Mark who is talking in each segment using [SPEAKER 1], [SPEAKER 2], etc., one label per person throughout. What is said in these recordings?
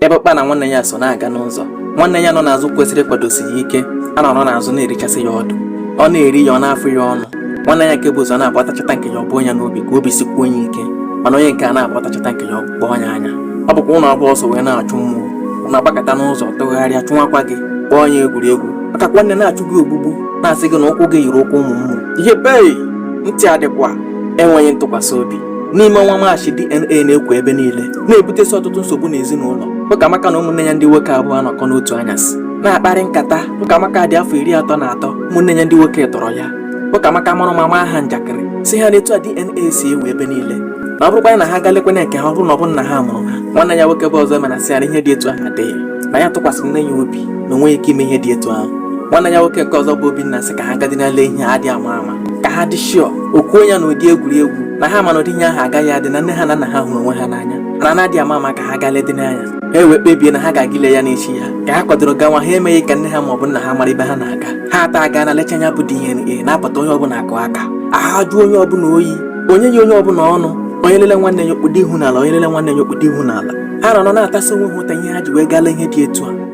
[SPEAKER 1] ebe ọkpa na nwanne ya so na-aga n'ụzọ nwanne ya nọ n'azụ kwesịrị ịkwadosi ya ike anọrọ n'azụ na-erichasị ya ọdụ ọ na-eri ya ọ na-afụ ya ọnụ nwanne ya nke bu ụzọ na-agbatachata nke ya ọbụ onye n'obi ka obi sikwuo onye ike mana onye nke a na-agbatachata nke ya ọgbụgbọ onye anya ọ bụkwa unu abụọ so wee na-achụ mmụọ unu agbakọta n'ụzọ tụgharịa chụwakwa gị kpọọ onye egwuregwu maka nwanne na-achụ gị ogbugbu na-asị gị na ụkwụ gị yiri ụkwụ ụmụ mmụọ ihe bee ntị adịkwa enweghị ntụkwasị obi n'ime ọnwa maachị DNA na-ekwo ebe niile na-ebutesi ọtụtụ nsogbu n'ezinụlọ Ụkamaka na ụmụnne ya ndị nwoke abụọ anọkọ n'otu anyasị na-akparị nkata Ụkamaka dị afọ iri atọ na atọ ụmụnne ya ndị nwoke tọrọ ya Ụkamaka mara ụma maa ha njakịrị sị ha na etu a DNA si ewu ebe niile na ọ bụrụkwa na ha galekwana nke ha ọ bụrụ na ọ bụ nna ha mụrụ ha nwanne ya nwoke bụ Ọzọemena sị ya na ihe dị etu ahụ adịghị na ya tụkwasịrị nne ya obi na o nweghị ike ime ihe dị etu ahụ nwanne ya nwoke nke ọzọ bụ Obinna sị ka ha gadị nalee ihe adị ama ama ka ha dị sure o kwuo ya n'ụdị egwuregwu na ha ma na ụdị ihe ahụ agaghị adị na nne ha na nna ha hụrụ onwe ha n'anya na na adị ama ama ka ha gaa ledị n'anya ha ewee kpebie na ha ga-aga ile ya n'echi ya ka ha kwadoro gawa ha emeghị ka nne ha maọbụ nna ha mara ebe ha na-aga ha atọ agaa nalecha nya bụ DNA na-apụta onye ọbụla akụ aka ahụ ajụọ onye ọbụla oyi onye yi onye ọbụla ọnụ onye lele nwanne ya o kpudo ihu n'ala onye lele nwanne ya o kpudo ihu n'ala ha nọ na-atasị onwe ha ụta ihe ha ji wee gaa lee ihe dị etu a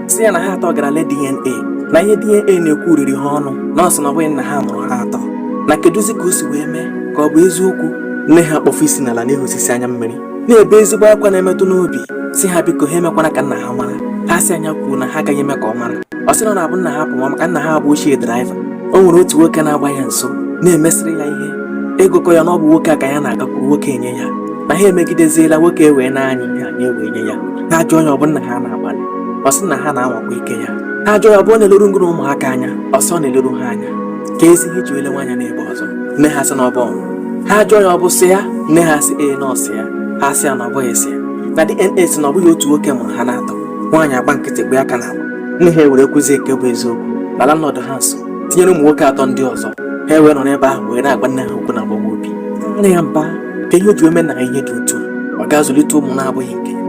[SPEAKER 1] sị ya na ha atọ gara le DNA na ihe DNA na-ekwu riri ha ọnụ na ọ sị na ọ bụghị nna ha mụrụ ha atọ na kedụzi ka o si wee mee ka ọ bụ eziokwu nne ha kpọfụ isi n'ala na-ehusisi anya mmiri na-ebe ezigbo akwa na-emetụ n'obi sị ha biko ha emekwana ka nna ha mara ha sị ya kwuo na ha agaghị eme ka ọ mara ọ sị na ọ na-abụ nna ha pụwa maka nna ha bụ ochie driver o nwere otu nwoke na-agba ya nso na-emesịrị ya ihe ego kọ ya na ọ bụ nwoke a ka ya na-agakwuru nwoke enye ya na ha emegideziela nwoke ewee na-anya ihe anyị ewee nye ya ha ajụọ ya ọ bụ nna ha na-agbalị ọ sị nna ha na-anwakwa ike ya ha jụọ ya ọ bụ ọ na-eleru ngị na ụmụaka anya ọ sị ọ na-eleru ha anya keezi ihe i ji elewa anya n'ebe ọzọ nne ha sị na ọ bụ ọnwụ ha jụọ ya ọ bụ sọ ya nne ha sị ee na ọ sọ ya ha sị ya na ọ bụghị sọ ya na DNA sị na ọ bụghị otu nwoke mụrụ ha n'atọ nwaanyị agba nkịtị gbe aka n'agba nne ha ewere kwuzie nke bụ eziokwu na landlord ha so tinyere ụmụ nwoke atọ ndị ọzọ ha ewee nọ n'ebe ahụ wee na-agwa nne ha okwu na-agbawa obi nne ya mba ka ihe o ji eme na ihe dị otu ọ ga-azụlite ụmụ na-abụghị nke ya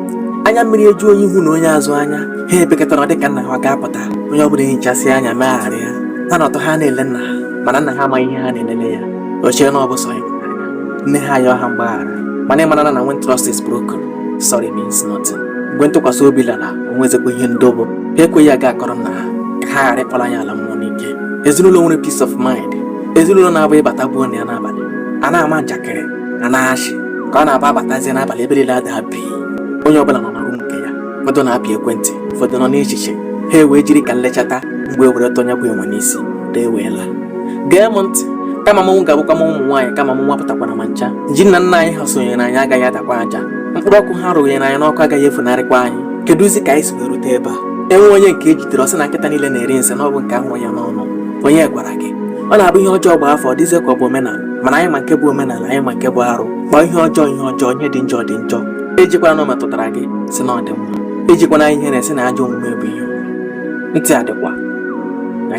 [SPEAKER 1] anya mmiri eju onye ihu na onye azụ anya ha ebekọtara dị ka nna ha ga-apụta onye ọ bụla ehichasị anya megharịa ha n'atọ ha na-ele nna ha mana nna ha amaghị ihe ha na-elele ya o chere na ọ bụ sọ ya nne ha ayọ ha mgbaghara mana ị mara na na when trust is broken sorry means nothing mgbe ntụkwasị obi lara o nwezikwa ihe ndo bụ ha ekweghị aga akọrọ nna ha ka ha ghara ịkpọla ya ala mmụọ n'ike ezinụlọ nwere peace of mind ezinụlọ na-abụ ị bata gboo na ya n'abalị a na-ama njakịrị a na-achị ka ọ na-abụ a batazie n'abalị ebe niile ada bi onye ọbụla nọ na rum nke ya ụfọdụ na-apị ekwentị ụfọdụ nọ n'echiche ha ewee jiri ka m lechata mgbọ ewere tọọ nya bụ enwe n'isi dee wee laa gee m ntị kama mmọnwụ ga-abụkwanụ ụmụ nwaanyị kama mmọnwụ apụtakwana ma ncha ji nna nna anyị ha sonyere anyị agaghị adakwa aja mkpụrụ akwụ ha rụnyere anyị n'ọkụ agaghị efunarịkwa anyị kedụzi ka anyị si erute ebe a e nwee onye nke e jidere ọ sị na nkịta niile na-eri nsị na ọ bụ nke a hụ ya n'ọnụ onye gwara gị ọ na-abụ ihe ọjọọ gbaa afọ ọ dịzie ka ọ bụ omenala mana anyị ma nke bụ omenala anyị ma nke bụ arụ kpọọ ihe ọjọọ ihe ọjọọ ihe dị njọ dị njọ ejikwana na ọ metụtara gị sị na ọ dị mma ejikwana ihere sị na ajọ omume bụ ihe ntị adịkwa ya